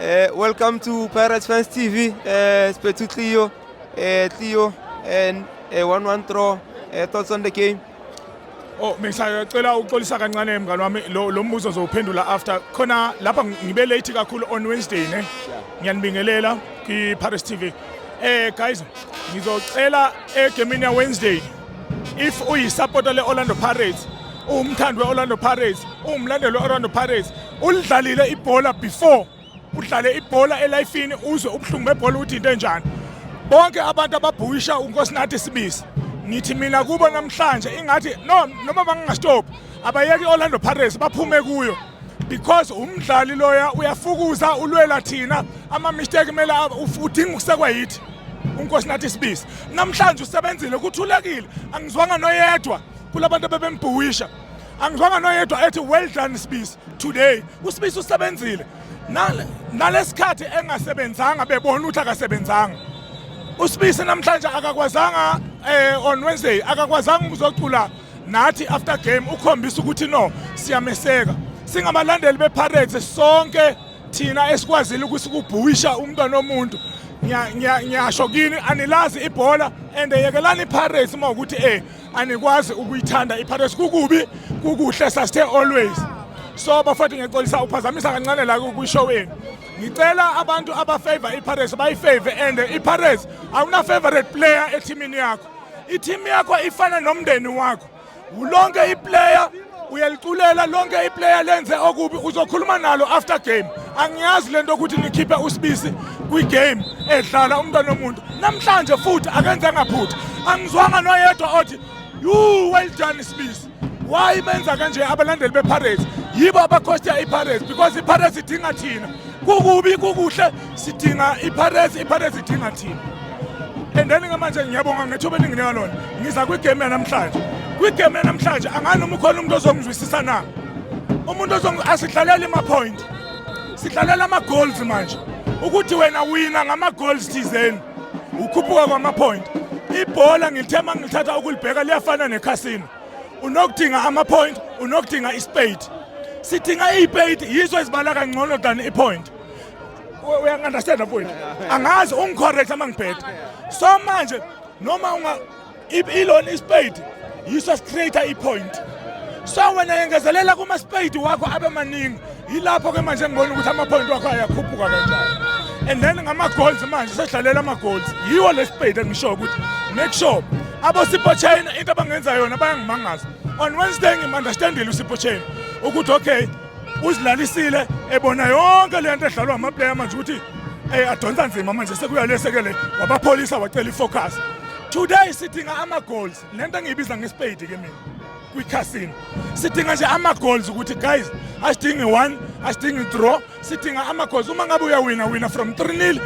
Uh, welcome to Pirates Fans TV. Uh, eh, Spetu Cleo, uh, eh, Cleo, and uh, one one throw. Uh, thoughts on the game? Oh ngisacela uxolisa kancane mngani wami lo mbuzo ngizowuphendula after khona lapha ngibe late kakhulu on Wednesday ne ngiyanibingelela kwi Paris TV eh guys ngizocela egemini ya Wednesday if uyisupporter le-orlando pirates uwumthandi we-orlando pirates uwumlandeli we-orlando pirates ulidlalile ibhola before udlale ibhola elifini uzwe ubuhlungu bebhola ukuthi into enjani bonke abantu ababhukisha unkosinathi sibisi ngithi mina kubo namhlanje ingathi no noma bangingastophi abayeke i-orlando pirates baphume kuyo because umdlali loya uyafukuza ulwela thina ama-mistake kumele udinga ukusekwa yithi unkosi nathi sibisi namhlanje usebenzile kuthulekile angizwanga noyedwa kula bantu abebembhuwisha angizwanga noyedwa ethi well done sibisi today usibisi usebenzile nalesikhathi engasebenzanga bebona ukuthi akasebenzanga usibisi namhlanje akakwazanga eh on Wednesday akakwazanga ukuzocula nathi after game ukhombisa ukuthi no siyameseka singabalandeli bePirates sonke thina esikwazile ukuthi kubhuwisha umntwana omuntu ngiyasho kini anilazi ibhola and yekelani iPirates uma ukuthi eh anikwazi ukuyithanda iPirates kukubi kukuhle sasithe always so bafowethu ngiyaxolisa uphazamisa kancane la kwishow yenu ngicela abantu abafavor iPirates bayifavor and iPirates awuna favorite player ethimini yakho Ithimu yakho ifana nomndeni wakho. Ulonke iplayer uyaliculela lonke iplayer lenze okubi uzokhuluma nalo after game angiyazi lento ukuthi nikhiphe usibisi kwi-game edlala umntwana omuntu namhlanje futhi akenze ngaphutha angizwanga noyedwa othi you well done sibisi why benza kanje abalandeli bePirates yibo abakhosta iPirates because iPirates idinga thina kukubi kukuhle sidinga iPirates iPirates idinga thina and then ngamanje ngiyabonga ngethuba eninginika lona ngiza kwigame yanamhlanje kwigame yanamhlanje angani noma ukhona umuntu ozongizwisisa na umuntu asidlalela ima-point sidlalela ama-goals manje ukuthi wena wina ngama-goals thizeni ukhuphuka kwama-point ibhola ngilithe uma ngilithatha ukulibheka liyafana nekhasino unokudinga ama-point unokudinga ispade sidinga iy'pade yizo ezibala kangcono than i-point uyangi-understanda mfowethu angazi ungicorrect uma ngibheda so manje noma ilona ispade yiso sicreate ipoint so wena yengezelela kuma-spade wakho abe maningi yilapho ke manje ngibona ukuthi ama-point wakho ayakhuphuka kanjani and then ngama-goals manje sedlalela ama-goals yiwo le spade engishoyo ukuthi make sure abosipho china into abangenza yona bayangimangaza on wednesday ngim-understandile usipho china ukuthi okay uzilalisile ebona yonke lento edlalwa amaplayer manje ukuthi eh adonsa nzima manje sekuyalesekele wabapholisa wacela ifocus today sidinga ama goals lento engiyibiza ngespade ke mina kwi casino sidinga nje ama goals ukuthi guys asidingi 1 asidingi draw sidinga ama goals uma ngabe uyawina wina from 3-0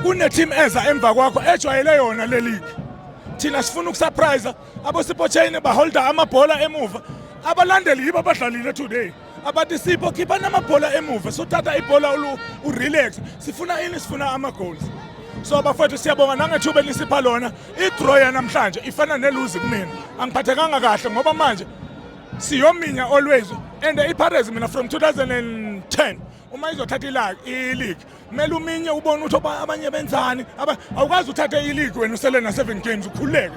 kune team eza emva kwakho ejwayele yona le league thina sifuna ukusurprise abosipho chain baholda amabhola emuva abalandeli yibo abadlalile today abathi sipho khipha namabhola emuva sothatha ibhola urelax sifuna ini sifuna ama-goals so bafowethu siyabonga nangethuba elisipha lona idraw yanamhlanje ifana neluzi kumina angiphathekanga kahle ngoba manje siyominya always and ipirates mina from 2010 uma izothatha ilaki iligi kumele uminye ubone ukuthi abanye benzani awukwazi uthathe iligi wena usele na-seven games ukhululeke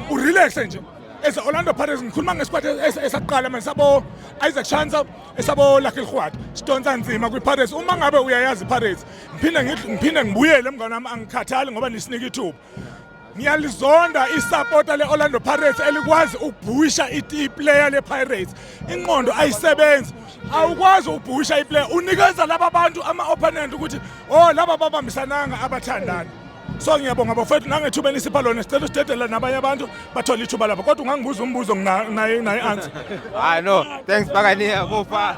urelaxe nje as Orlando Pirates ngikhuluma ngesikwati esaqala manje sabo Isaac Shansa esabo Lucky Rhwati sidonsa nzima kwiPirates uma ngabe uyayazi iPirates ngiphinde ngiphinde ngibuyele mngane wami angikhathali ngoba nisinike ithuba ngiyalizonda isapota le-orlando pirates elikwazi ukubhusha iplayer le-pirates inqondo ayisebenzi awukwazi ukubhusha iplayer unikeza laba bantu ama-opponent ukuthi o oh, laba babambisananga abathandani so ngiyabonga bafowethu nangethuba enisipha lona sicela usidedela nabanye abantu bathole ithuba lapho kodwa ungangibuza umbuzo nginaye naye answer hayi no thanks bakaniya bofa